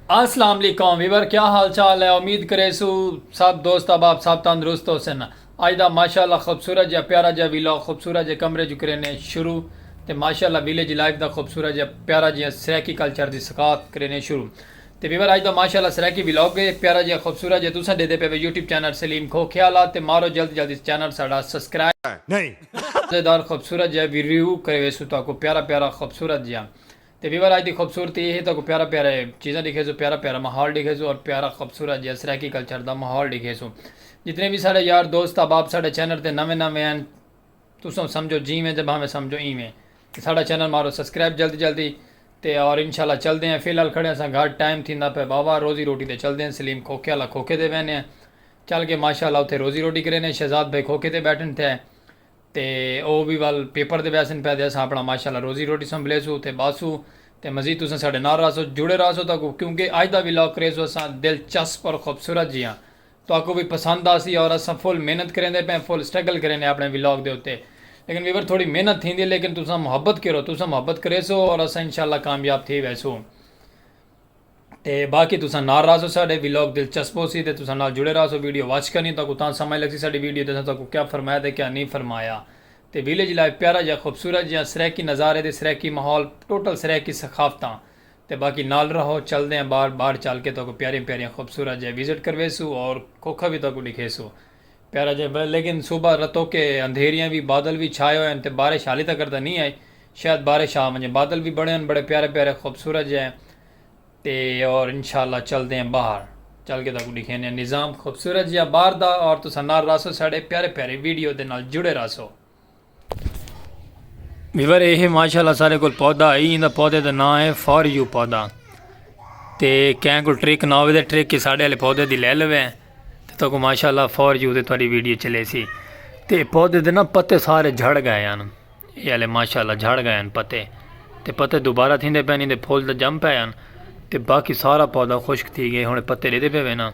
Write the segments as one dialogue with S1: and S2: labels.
S1: اسلام علیکم ویور کیا حال چال ہے امید کریسو سب دوست احباب سب تندرست ہو سن اج دا ماشاءاللہ خوبصورت جا پیارا جا ویلاگ خوبصورت جے کمرے جو کرینے شروع تے ماشاءاللہ ویلیج لائف دا خوبصورت جا پیارا جیاں سرائیکی کلچر دی ثقافت کرینے شروع تے ویور اج دا ماشاءاللہ سرائیکی ویلاگ ہے پیارا جا خوبصورت جا تساں ڈیدے پے وے یوٹیوب چینل سلیم کھو کھیالا تے مارو جلد جلد اس چینل ساڈا سبسکرائب مزیدار خوبصورت جا ویریو کریویسو تاکو پیارا پیارا خوبصورت جا تے ویور آج دی خوبصورتی ایہے تاکوں پیارا پیارا ہے چیزاں ڈیکھیسوں پیارا پیارا ماحول ڈیکھیسوں اور پیارا خوبصورت جیہا سرائیکی کلچر دا ماحول ڈیکھیسوں جتنے وی ساڈے یار دوست احباب ساڈے چینل تے نویں نویں ہن تساں سمجھو جیویں تے بھاویں سمجھو ایویں تے ساڈا چینل مارو سبسکرائب جلدی جلدی تے اور انشاءاللہ چلدے ہیں فی الحال کھڑے ہاں ساں گھر ٹائم تھیندا پئے واہ واہ روزی روٹی تے چلدے ہیں سلیم کھوکھے آلا کھوکھے تے ویندے ہیں چل کے ماشاءاللہ اوتھے روزی روٹی کریندے ہیں شہزاد بھائی کھوکھے تے بیٹھن تھے تے او وی ول پیپر دے ویسن پے تے اساں اپنا ماشاءاللہ روزی روٹی سنبھلیسوں تے باسوں تے مزید تساں ساڈے نال راہسو جڑے راہسو تہاکوں کیونکہ اج دا ولاگ کریسوں اساں دلچسپ اور خوبصورت جیہاں تہاکوں وی پسند آسی اور اساں فل محنت کریندے پے ہیں فل سٹرگل کرینے اپنے ولاگ دے اتے لیکن ویور تھوڑی محنت تھیندی ہے لیکن تساں محبت کرو تساں محبت کریسو اور اساں انشاءاللہ کامیاب تھی ویسوں۔ تے باقی تساں نال راہسو ساڈے ولاگ دلچسپ ہوسی تے تساں نال جڑے راہسو ویڈیو واچ کرنی تہاکوں تاں سمجھ لگسی ساڈی ویڈیو تے اساں تہاکوں کیا فرمایا تے کیا نی فرمایا تے ویلیج لائف پیارا جیہا خوبصورت جیہا سرائیکی نظارے تے سرائیکی ماحول ٹوٹل سرائیکی ثقافتاں تے باقی نال راہو چلدے ہیں باہر باہر چل کے تہاکوں پیاریاں پیاریاں خوبصورت جیہاں وزٹ کرویسوں اور کھوکھا وی تہاکوں ڈکھیسوں پیارا جیہا لیکن صبح رتو کے اندھیریاں وی بادل وی چھائے ہوئے ہیں تے بارش حالی تکر تاں نی آئی شاید بارش آ ونجے بادل وی بنے ہوئے ہیں بڑے پیارے پیارے خوبصورت جیہے تے اور انشاءاللہ چلدے ہیں باہر چل کے تاکو ڈکھینے ہیں نظام خوبصورت جیا باہر دا اور تسا نال راسو ساڑے پیارے پیارے ویڈیو دے نال جڑے راسو ویور اے ہے ماشاءاللہ سارے کل پودا ہی اندہ پودے دے نا ہے فار یو پودا تے کہیں کل ٹریک نا ہوئے دے ٹریک کی ساڑے علی پودے دی لے لوے ہیں تے تو کو ماشاءاللہ فار یو دے توڑی ویڈیو چلے سی تے پودے دے نا پتے سارے جھڑ گئے ہیں اے آلے ماشاء اللہ جھڑ گئے ہن پتے تے پتے دوبارہ تھیندے پئن ایندے پھول تے جم پئے ہن تے باقی سارا پودا خشک تھی گئے ہن پتے ڈیدے پئے وینا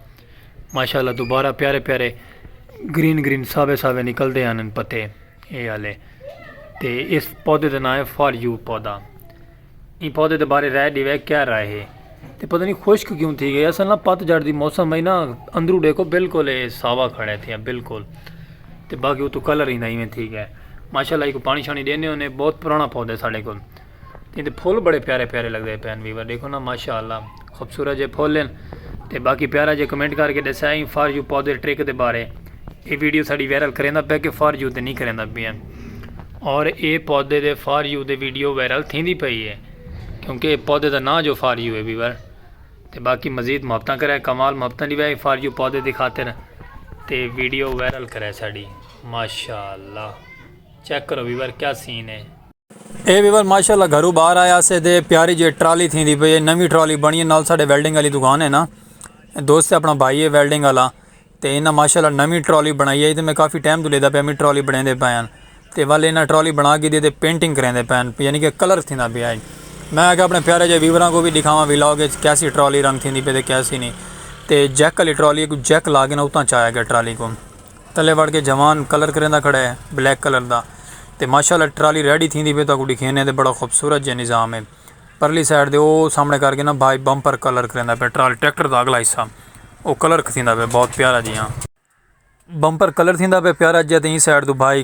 S1: ماشاء اللہ دوبارہ پیارے پیارے گرین گرین ساوے ساوے نکل دے ہن پتے اے آلے تے اس پودے دے نائے فار یو پودا ایں پودے دے بارے رائے ڈیوے کیا رائے ہے تے پتہ نہیں خشک کیوں تھی گئے اصل نا پت جھڑ دی موسم میں نا اندرو ڈیکھو بالکل اے ساوا کھڑے تھے بالکل تے باقی وہ تو کلر ہی نہیں میں تھی گئے ماشاءاللہ کو پانی شانی دینے ہونے بہت پرانا پودا ہے ساڑے کو تے پھول بڑے پیارے پیارے لگ رہے پین ویور دیکھو نا ماشاءاللہ خوبصورت جے پھول ہیں تے باقی پیارا جے کمنٹ کر کے دسیا ہی فار یو پودے ٹرک دے بارے اے ویڈیو ساڑی وائرل کریندا پیا کہ فار یو تے نہیں کریندا پیا اور اے پودے دے فار یو دے ویڈیو وائرل تھیندی پئی ہے کیونکہ اے پودے دا نام جو فار یو ہے ویور تے باقی مزید محبتاں کرے کمال محبتاں دی وے فار یو پودے دی خاطر تے ویڈیو وائرل کرے ساڑی ماشاءاللہ چیک کرو ویور کیا سین ہے اے ویول ماشاءاللہ گھرو باہر آیا اسے دے پیاری جے ٹرالی تھیں دی پئی ہے نوی ٹرالی بنی ہے نال ساڈے ویلڈنگ علی دکان ہے نا دوست ہے اپنا بھائی ہے ویلڈنگ علا تے انہاں ماشاءاللہ نوی ٹرالی بنائی ہے تے میں کافی ٹائم تو لیدا پیا میں ٹرالی بنیں دے پایا تے ول انہاں ٹرالی بنا کے دے پینٹنگ کریں دے پایا یعنی کہ کلر تھیں دا پیا ہے میں آگے اپنے پیارے جے ویوراں کو بھی دکھاواں بھی لاؤ گے کیسی ٹرالی رنگ تھیں دی پہ تے کیسی نہیں تے جیک علی ٹرالی کو جیک لاگے نا اتاں چاہے گا ٹرالی کو تلے وڑ کے جوان کلر کریندا کھڑا ہے بلیک کلر دا تے ماشاءاللہ ٹرالی ریڈی تھیندی پئی تہاکوں ڈکھینے تے بڑا خوبصورت جے نظام ہے پرلی سائیڈ دے او سامنے کر کے نا بھائی بمپر کلر کریندا پیا ٹرالی ٹریکٹر دا اگلا حصہ او کلر کھتیندا پیا بہت پیارا جیاں بمپر کلر تھیندا پیا پیارا جیاں تے ایں سائیڈ دو بھائی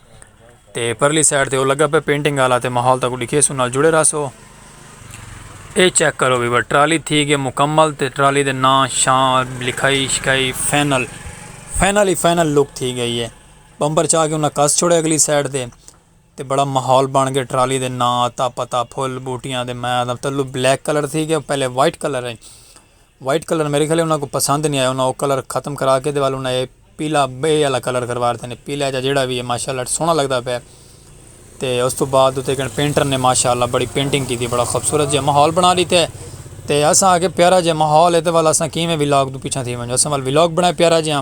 S1: تے پرلی سائیڈ تے او لگا پہ پینٹنگ آلا تے ماحول تاکو ڈکھے سو نال جڑے رہسو اے چیک کرو بھی بر ٹرالی تھی گئے مکمل تے ٹرالی دے ناں شاں لکھائی شکھائی فائنل فائنل ہی فائنل لک تھی گئی ہے بمبر چاہ کے انہاں کس چھوڑے اگلی سائیڈ تے تے بڑا ماحول بن گئے ٹرالی دے ناں آتا پتا پھول بوٹیاں دے میاں دا تلو بلیک کلر تھی گئے پہلے وائٹ کلر ہیں وائٹ کلر میرے خیال انہاں کو پسند نہیں آیا انہاں او کلر ختم کرا کے دیوال انہاں اے پیلا بے والا کلر کروا رہتے ہیں پیلا جا جیڑا بھی ہے ماشاءاللہ سونا لگدا پیا تے اس تو بعد تے کن پینٹر نے ماشاءاللہ بڑی پینٹنگ کی تھی بڑا خوبصورت جے ماحول بنا لیتے ہیں تے اساں آگے پیارا جے ماحول ہے تے والا اساں کیویں ولاگ تو پیچھا تھی ونجو اساں وال ولاگ بنائے پیارا جے ہاں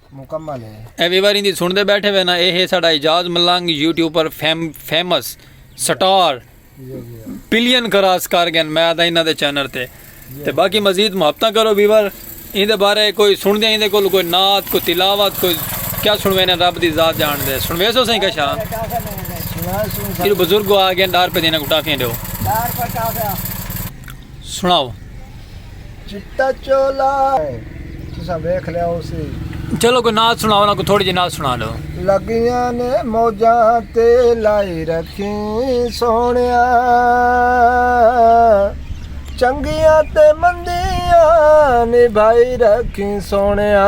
S2: مکمل ہے۔ اے ویواری دی سن دے
S1: بیٹھے وے نا اے ہے ساڈا اعجاز ملنگ یوٹیوب پر fame famous star billion cross کر گن میں آدھا انہاں دے چینل تے تے باقی مزید محبتاں کرو ویور ایں دے بارے کوئی سن دے ایں دے کول کوئی نعت کوئی تلاوت کوئی کیا سنوینے رب دی ذات جان دے سنویس ہو سائیں کشا یہ بزرگ آ گئے ڈار پہ دینا کو ٹافیاں دیو سنڑاؤ۔
S2: چٹا چولا تساں ویکھ لیا ہوسی۔ چلو کوئی نعت
S1: سنڑاؤ نا کوئی تھوڑی جی نعت سنڑا لو۔ لگیاں نے
S2: موجاں تے لائی رکھیں سوہنیا چنگیاں تے مندیاں نبھائی رکھیں سوہنیا۔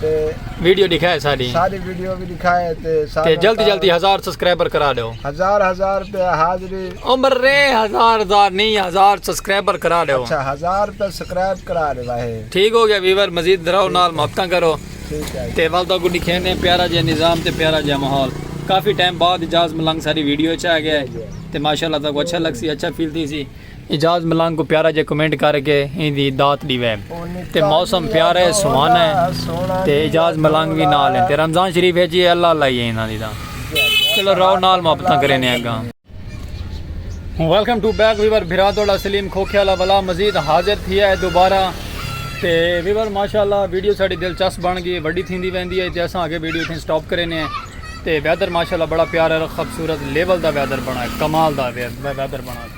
S2: تے ویڈیو
S1: دکھائے ساری ساری ویڈیو بھی
S2: دکھائے تے تے جلدی جلدی
S1: ہزار سبسکرائبر کرا دیو ہزار ہزار
S2: پہ حاضری عمر رے
S1: ہزار ہزار نہیں ہزار سبسکرائبر کرا دیو اچھا ہزار پہ
S2: سبسکرائب کرا دے واہے ٹھیک ہو گیا ویور
S1: مزید دراو نال محبتاں کرو ٹھیک ہے تے والدہ
S2: کو دکھینے
S1: پیارا جے نظام تے پیارا جے ماحول کافی ٹائم بعد اجاز ملنگ ساری ویڈیو چاہ گیا ہے تے ماشاءاللہ تاکو اچھا لگ سی اچھا فیل تھی سی اعجاز ملنگ کوں پیارا جے کمنٹ کر کے ایں دی داد ڈیوے تے موسم پیارا ہے سہانا ہے تے اعجاز ملنگ وی نال ہیں تے رمضان شریف ہے جی اللہ اللہ ہی ہے انہاں دی دا چلو رو نال محبتاں کرے نے اگاں ویلکم ٹو بیک ویور بھرا دوڑا سلیم کھوکھے والا بلا مزید حاضر تھی ہے دوبارہ تے ویور ماشاءاللہ ویڈیو ساڑی دلچسپ بن گئی وڈی تھیندی ویندی ہے تے اساں اگے ویڈیو تھیں سٹاپ کرے نے تے ویدر ماشاءاللہ بڑا پیارا خوبصورت لیول دا ویدر بنا ہے کمال دا ویدر بنا ہے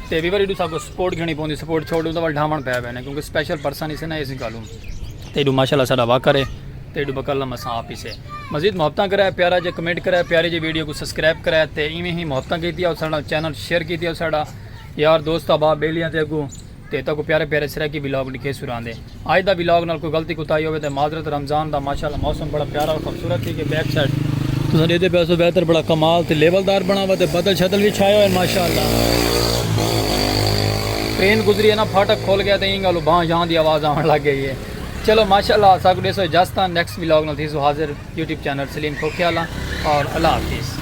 S1: تے وی واری ڈو ساکو سپورٹ گھنی پوندی سپورٹ چھوڑ دوں تو وال ڈھاون پے وینے کیونکہ سپیشل پرسن اسے نا ایسی گالوں تے ڈو ماشاءاللہ ساڈا وا کرے تے ڈو بکل لما سا اپ اسے مزید محبتاں کرے پیارا جے کمنٹ کرے پیاری جے ویڈیو کو سبسکرائب کرے تے ایویں ہی محبتاں کیتی او ساڈا چینل شیئر کیتی او ساڈا یار دوست ابا بیلیاں تے اگوں تے تہاکوں پیارے پیارے سرائیکی ولاگ ڈکھیسوں رہندے اج دا ولاگ نال کوئی غلطی کوتاہی ہووے تے معذرت رمضان دا ماشاءاللہ موسم بڑا پیارا اور خوبصورت تھی کہ بیک سائیڈ تساں ڈیدھے پئے سو ویدر بڑا کمال تے لیول دار بنا ہوا تے بدل شدل وی چھائے ہوئے ماشاءاللہ ٹرین گزری ہے نا پھاٹک کھول گیا تے ایں گالوں بھاں جھاں دی آواز آون لگ گئی ہے چلو ماشاءاللہ اساکوں ڈیسو اجازتاں نیکسٹ ولاگ نال تھیسوں حاضر یوٹیوب چینل سلیم کھوکھیالہ اور اللہ حافظ۔